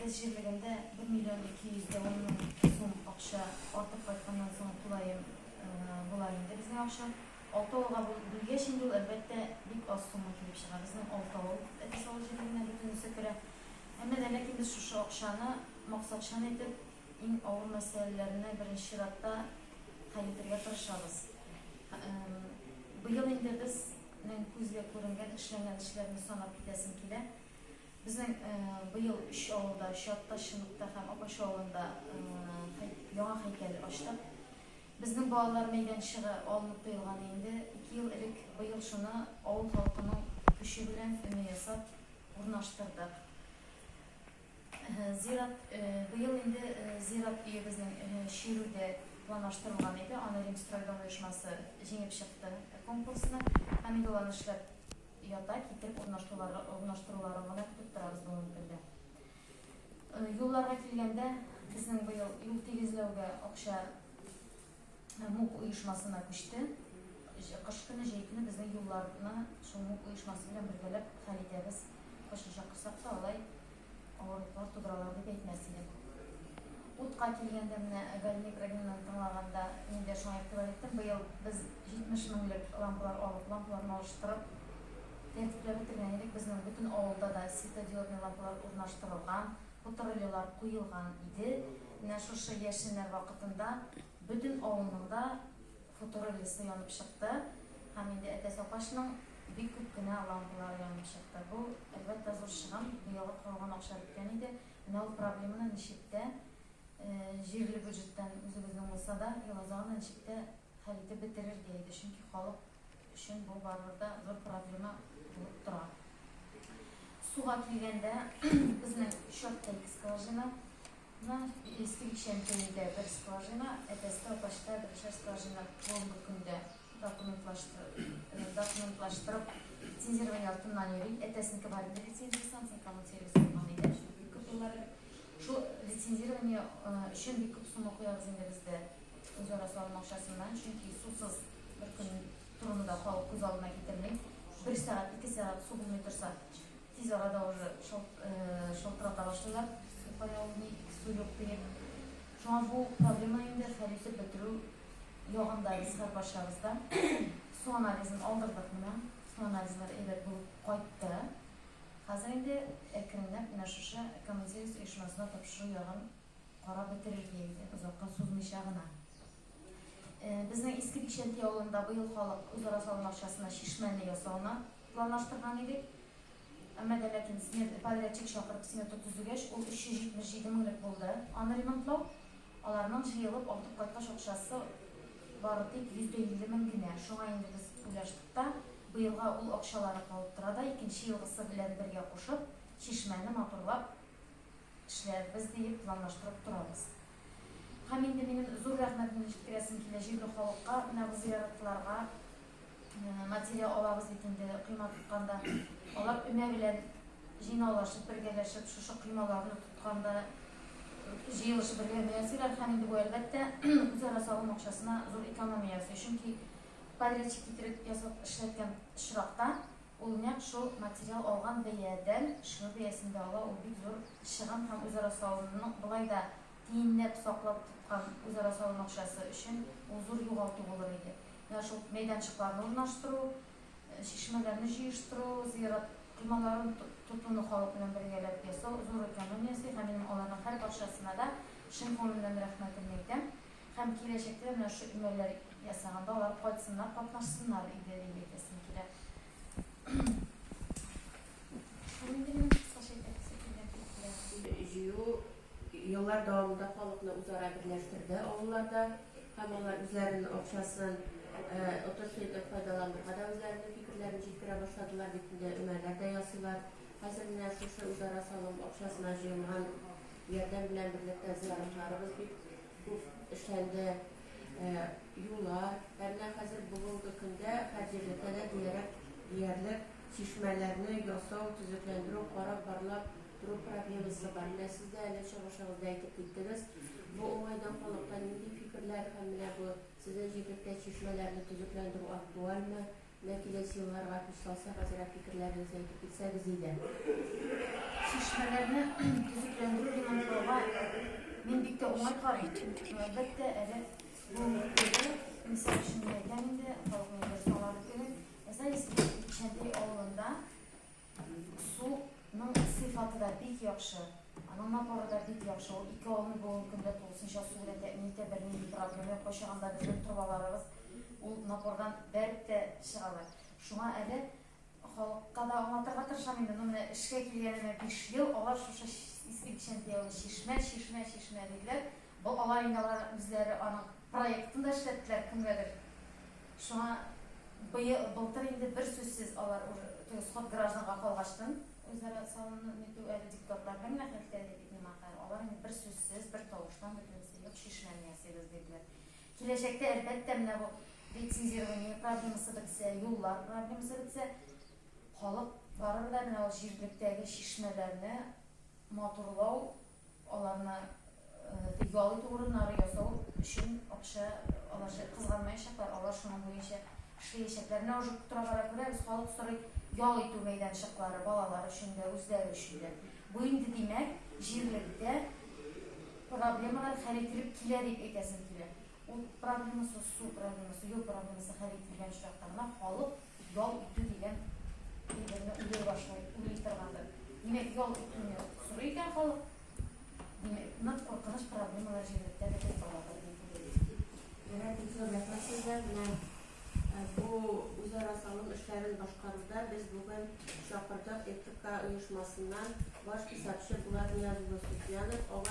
Без җирлегендә бер миллион ике йөз дә ун мең сум акча артып кайтканнан соң тулаем була инде безнең акча. Алты авылга бүлгәч инде ул, әлбәттә, бик аз сумма килеп чыга. Безнең алты авыл Әтәч авыл җирлегенә бөтенесе керә. Әмма дә ләкин без шушы акчаны максатчан итеп иң авыр мәсьәләләрне беренче чиратта хәл итергә тырышабыз. Быел инде без нең күзгә күренгән, эшләнгән эшләрне санап китәсем килә. Безнең быел өч авылда, Чатта, Чыныкта һәм Апач авылында яңа һәйкәл ачтык. Безнең балалар мәйданчыгы алынып тыелган инде ике ел элек. Быел шуны авыл халкының көче белән өне ясап урнаштырдык. Зират быел инде зират өебезнең Чирүдә планлаштырылган иде, аны Римстройдом оешмасы җиңеп чыкты конкурсны һәм юллар эшләп Ята китеп урнаштыруларын гына көтеп торабыз бүгенге көндә. Юлларга килгәндә, безнең быел юл тигезләүгә акча МУК оешмасына күчте. Кыш көне, җәй көне безнең юлларны шул МУК оешмасы белән бергәләп хәл итәбез. Кайчанча корсак та алай Авырлыклар тудыралар дип әйтмәс идем. Утка килгәндә, менә Гальмик Рәминаны тыңлаганда, мин дә шуңа игътибар иттем, быел без 70 меңлек лампалар алып, лампаларны алыштырып, тәртипләп бетергән идек. Безнең бөтен авылда да светодиодный лампалар урнаштырылган, патруллилар куелган иде. Менә шушы яшеннәр вакытында Бөтен авылның да хуторы лесы янып чыкты һәм инде әтәс апачның бик күп кенә лампалары янып чыкты. Бу, әлбәттә, зур чыгым, быелгы корылган акча беткән иде. Менә ул проблеманы ничек тә, җирле бюджеттан, үзебезнең булса да, илазагында ничек тә хәл итеп бетерергә иде, чөнки халык өчен бу барыбер дә зур проблема булып тора. Суга килгәндә, безнең Чёткое скважина. На действующем көнендә бер скважина, ә Тәскә почта берешәр скважина бүгенге көндә документлаштырып, документлаштырып лицензирование артыннан йөри. Әтәснеке бар иде лицензия станция, коммун сервис булган иде, шул бик күп еллар элек. Шул лицензирование өчен бик күп сума куябыз инде без дә үзара салым акчасыннан, чөнки сусыз бер көн торуны да халык күз алдына китерми. Бер сәгать, ике сәгать су булмый торса. Тиз арада уже шылтырата башлыйлар, су кая ул, ник су юк диеп. Шуңа бу проблема инде хәл итеп бетерү ягында без хәзер барчабыз да. Су анализын алдырдык менә, су анализлары әйбәт булып кайтты. Хәзер инде әкренләп менә шушы Коммунсервис оешмасына тапшыру ягын карап бетерергә инде, озакка сузмыйча гына. Безнең Иске Бишәнти авылында быел халык үзара салым акчасына чишмәне ясауны планлаштырган идек. Әмма дә ләкин смет, подрядчик чакырып смета төзегәч, ул 377 меңлек булды. Аны ремонтлау, аларның җыелып артып кайткач акчасы бары тик 150 мең генә. Шуңа инде без уйлаштык та, быелга ул акчалары калып тора да, икенче елгысы белән бергә кушып, чишмәне матурлап эшләрбез диеп планлаштырып торабыз. Һәм инде минем зур рәхмәтемне җиткерәсем килә җирле халыкка, менә бу зыяратларга материя алабыз бит инде койма тотканда. Алар өмә белән җыйнаулашып, бергәләшеп, шушы коймаларны тотканда җыелышып бергә өмә ясыйлар. Һәм инде бу, әлбәттә, үзара салым акчасына зур экономия ясый. Чөнки подрядчик китереп ясап эшләткән очракта, Ул нәкъ шул материал алган бәядән шигырь бәясен дә ала, ул бик зур чыгым һәм үзара салымның болай да тиенләп саклап тоткан үзара салым акчасы өчен ул зур югалту булыр иде. Менә шул мәйданчыкларны урнаштыру, чишмәләрне җыештыру, зыярат коймаларын тотуны халык белән бергәләп ясау зур экономия ясый һәм минем аларның һәрбарчасына да чын күңелемнән рәхмәтемне әйтәм. Һәм киләчәктә дә менә шушы имәлләр ясаганда алар кайтсыннар, катнашсыннар иде дип әйтәсем килә. Шул инде минем кыскача әйтәсе килгән фикерләр. Җыю еллар дәвамында халыкны үзара берләштерде авылларда һәм алар үзләренең акчасын отышлы итеп файдаланырга да үзләренең фикерләрен җиткерә башладылар, бит инде өмәләр дә ясыйлар. Хәзер менә шушы үзара салым акчасына җыелган Ярдәм белән берлектә зыяратларыбыз бик күп эшләнде. Юллар, әмма хәзер бүгенге көндә һәр җирлеккә дә диярлек, диярлек чишмәләрне ясау, төзекләндерү, карап, барлап тору проблемасы бар. Менә сез дә әле чыгышыгызда әйтеп киттегез. Бу уңайдан халыкта нинди фикерләр һәм менә бу сезнең җирлектә чишмәләрне төзекләндерү актуальмы? Менә киләсе елларга күз салсак, азрак фикерләрегезне әйтеп китсәгез иде. Чишмәләрне төзекләндерү дигән форга мин бик тә уңай карыйм. Әлбәттә, әле бу мөкәддәс инсаф өчен әйтәм инде, халыкның дәшмалары түгел. Әзәй Исмәгыйль Чәнтәй авылында Суның сыйфаты да бик яхшы, аның напоры да бик яхшы. Ул ике авылны бүгенге көндә тулысынча су белән тәэмин итә, бернинди проблема юк. Кайчагында безнең торбаларыбыз ул напордан бәреп тә чыгалар. Шуңа әле халыкка да аңлатырга тырышам инде, ну менә эшкә килгәнемә биш ел, алар шушы Иске Бикчәнтәй авылы чишмә, чишмә, чишмә диделәр. Бу алар инде алар үзләре аның Проектын да эшләттеләр кемгәдер. Шуңа быел, былтыр инде берсүзсез алар ур, теге сход гражданга калгачтын, үзара салымны нитү әле депутатлар һәм нәкъ әйткәндәй бит миңа хәл, алар инде берсүзсез, бер тавыштан бөтенесе юк чишмәне ясыйбыз диделәр. Киләчәктә, әлбәттә, менә бу лицензирование проблемасы бетсә, юллар проблемасы бетсә, халык барыр да менә ул җирлектәге чишмәләрне матурлау Аларны ял итү урыннары ясау өчен акча алачак, кызганмаячаклар, алар шуның буенча эшләячәкләр. Менә уже тора-бара күрәбез, халык сорый ял итү мәйданчыклары, балалар өчен дә, үзләре өчен дә. Бу инде, димәк, җирлектә проблемалар хәл ителеп килә дип әйтәсем килә. Ут проблемасы, су проблемасы, юл проблемасы хәл ителгән очракта гына халык Ял итү дигән әйберне уйлый башлый, уйлый торгандыр. Димәк, ял итүне сорый икән халык. Димәк, нык куркыныч проблемалар җирлектә бетеп барадыр дип уйлыйм. Менә бик зур рәхмәт сезгә. Менә бу үзара салым эшләрен башкаруда без бүген чакырдык ЭТК оешмасыннан баш хисапчы Булат Ниязуллы Суфьянов.